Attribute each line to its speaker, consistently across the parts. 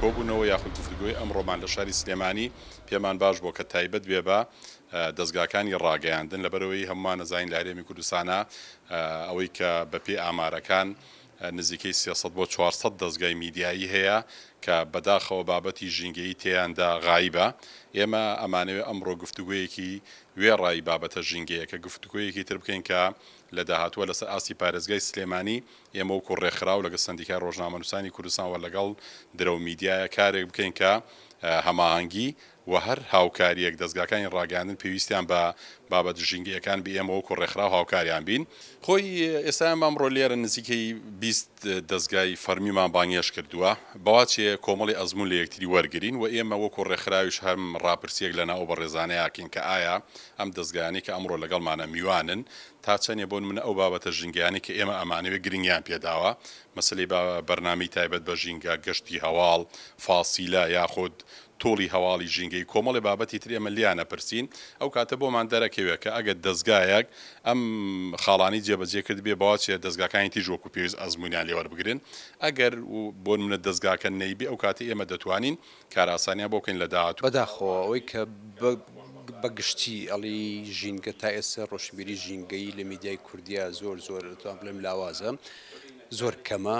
Speaker 1: کۆبوونەوە یاخود گفتوگۆی ئەمڕۆمان لە شاری سلێمانی پێمان باش بووە کە تایبەت بێ بە دەزگاکانی ڕاگەیاندن لەبەرئەوەی هەموومان ئەزانین لە هەرێمی کوردستانا ئەوەی کە بە پێی ئامارەکان نزیکەی سێ سەد بۆ چوار سەد دەزگای میدیایی هەیە کە بەداخەوە بابەتی ژینگەیی تێیاندا غایبە ئێمە ئەمانەوێ ئەمڕۆ گفتوگۆیەکی وێڕای بابەتە ژینگەیەکە گفتوگۆیەکی تر بکەین کە لە داهاتووە لەسەر ئاستی پارێزگای سلێمانی ئێمە وەکو ڕێکخراو لەگەڵ سەندیکای ڕۆژنامەنووسانی کوردستان وە لەگەڵ درەو میدیایە کارێک بکەین کە هەماهەنگی وە هەر هاوکاریەک دەزگاکانی ڕاگەیاندن پێویستیان بە بابەت ژینگە یەکان بێ ئێمە وەکو ڕێکخراو هاوکاریان بین. خۆی ئێستا ئێمە ئەمڕۆ لێرە نزیکەی بیست دەزگای فەرمیمان بانگێشت کردووە بەواچێ کۆمەڵی ئەزموون لە یەکتری وەرگرین وە ئێمە وەکو ڕێکخراویش هەم ڕاپرسیەک لەناو ئەو بەڕێزانەیە ئەکەین کە ئایا ئەم دەزگایانەی کە ئەمڕۆ لەگەڵمانە میوانن تا چەندە بۆ نمونە ئەو بابەتە ژینگەیانەی کە ئێمە ئەمانەوێت گرنگیان پێداوە مەسەلەی بەرنامەی تایبەت بە ژینگە، گەشتی هەواڵ، فاسیلە یاخود توڵی هەواڵی ژینگەی کۆمەڵێ بابەتی تر ئێمە لێیان ئەپرسین ئەو کاتە بۆمان دەرەکەوێت کە ئەگەر دەزگایەک ئەم خاڵانەی جێبەجێ کردبێ بەواچێ دەزگاکانی تیژ وەکو پێویست ئەزمونیان لێوەربگرن ئەگەر بۆ نمونە دەزگاکە نەیبێ ئەو کاتە ئێمە دەتوانین کارئاسانیان بۆ بکەین لەداهاتوو. بەداخەوە ئەوەی کە
Speaker 2: بە گشتی ئەڵی ژینگە تا ئێستا ڕۆشنبیری ژینگەیی لە میدیای کوردیا زۆر زۆر توان بڵێم لاوازە زۆر کەمە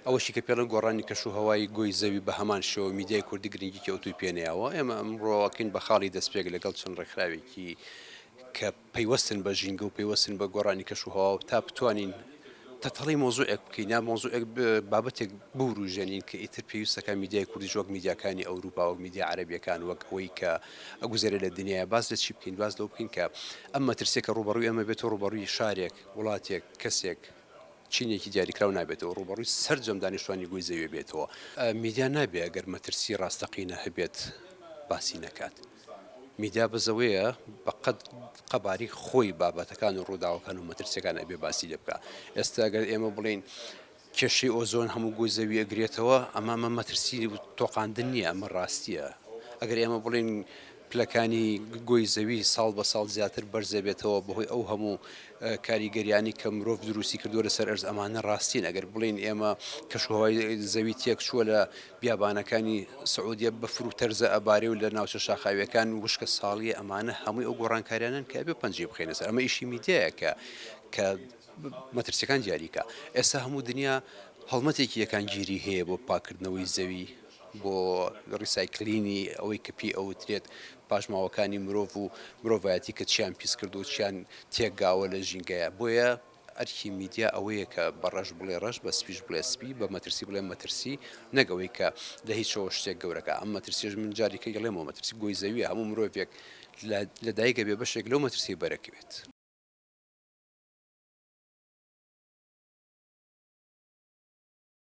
Speaker 2: ئەوەشی کە پێڵە گۆڕانی کەش و هەوای گۆی زەوی بە هەمان شێوە میدیای کوردی گرنگیکی ئەوتوی پێنەیەوە ئێمە ئەمڕۆکەین بە خاڵی دەستپێک لەگەڵ چەند ڕێکخراوێکی کە پەیوەستن بە ژینگە و پەیوەستن بە گۆڕانی کەش و هەوا و تا بتوانین تەتەڵی مەوزوعێک بکەین یا مەوزوعێک بابەتێک بوروژێنین کە ئیتر پێویستەکە میدیای کوردیش وەک میدیاکانی ئەوروپا وەک میدیا عەرەبیەکان وەک ئەوەی کە ئەگوزەرێ لە دنیاە باس لە چی بکەین باس لەو بکەین کە ئەم مەترسێکە ڕوبەڕوی ئەمە بێت و ڕوبەڕوی شارێک وڵاتێک کەسێک چینێکی دیاریکراو نابێتەوە ڕوبەڕوی سەرجەم دانیشتوانی گوی زەوێ بێتەوە میدیا نابێ گەر مەترسی ڕاستەقینە هەبێت باسی نەکات. میدیا بزەوەیە بە قەد قەباری خۆی بابەتەکان و ڕووداوەکان و مەترسیەکان ئەبێ باسی لێ بکە ئێستا ئەگەر ئێمە بڵین کێشەی ئۆزۆن هەموو گوی زەوی ئەگرێتەوە ئەمامە مەترسی تۆقااندن نییە ئەمە ڕاستیە ئەگەر ئێمە بڵین پلەکانی گۆی زەوی ساڵ بە ساڵ زیاتر بەرزەبێتەوە بەهۆی ئەو هەموو کاریگەریانی کە مرۆڤ دروستی کردووە لەسەر ئەرز ئەمانە ڕاستین ئەگەر بڵین ئێمە کەشوهوای زەوی تێک چووە لە بیابانەکانی سعودیە بەفر و تەرزە ئەبارێ و لە ناوچە شاخاویەکان وشکە ساڵیە ئەمانە هەمووی ئەو گۆڕانکاریانەن کە ئەبێ پەنجەی بخەینە سەر ئەمە ئیشی میدیایە کە کە مەترسیەکان دیاریکە ئێستا هەموو دنیا هەڵمەتێکی یەکان گیری هەیە بۆ پاکردنەوەی زەوی بۆ ڕیسایکلینی ئەوەی کە پێی ئەوترێت پاشماوەکانی مرۆڤ و مرۆڤایەتی کە چیان پیس کردو چیان تێکگاوە لە ژینگەیە بۆیە ئەرکی میدیا ئەوەیە کە بە ڕەش بڵێ ڕەش، بە سپیش بڵێ سپی، بە مەترسی بڵێ مەترسی، نەک ئەوەی کە لە هیچەوە شتێک گەورەکە. ئەم مەترسیەش من جاری کە یڵێمەوە مەترسی گۆی زەویە، هەموو مرۆڤێک لە لە دایک ئەبێ بەشێک لەو مەترسیەی بەرەکەوێت.